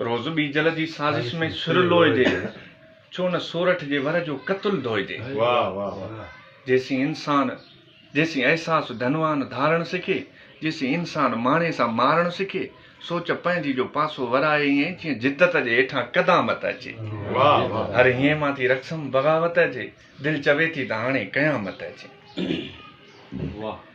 روز ٻيجل جي سازش ۾ سر لوئجي، ڇو نه سورٺ جي ور جو قتل ڌوئجي. جيسين انسان جيسين احساس ڌنوان ڌارڻ سکي، جيسين انسان ماڻي سان مارڻ سکي، سوچ پنهنجي جو پاسو ورائي ائين جيئن جدت جي هيٺان قدامت اچي. هر هينء مان ٿي رقصم بغاوت اچي، دل چوي ٿي ته هاڻي قيامت اچي.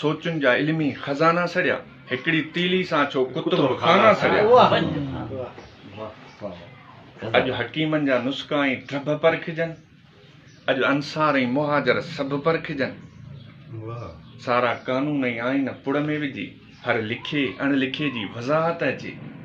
سوچن جا علمي خزانا سڙيا. هڪڙي تيلي سان ڇو ڪتب خانا سڙيا. اڄ حڪيمن جا نسخا ۽ ٽڀ پرکجن. اڄ انصار ۽ مهاجر سڀ پرکجن. سارا قانون ۽ آئين پڙ ۾ وجهي. هر لکي اڻ لکي جي وضاحت اچي.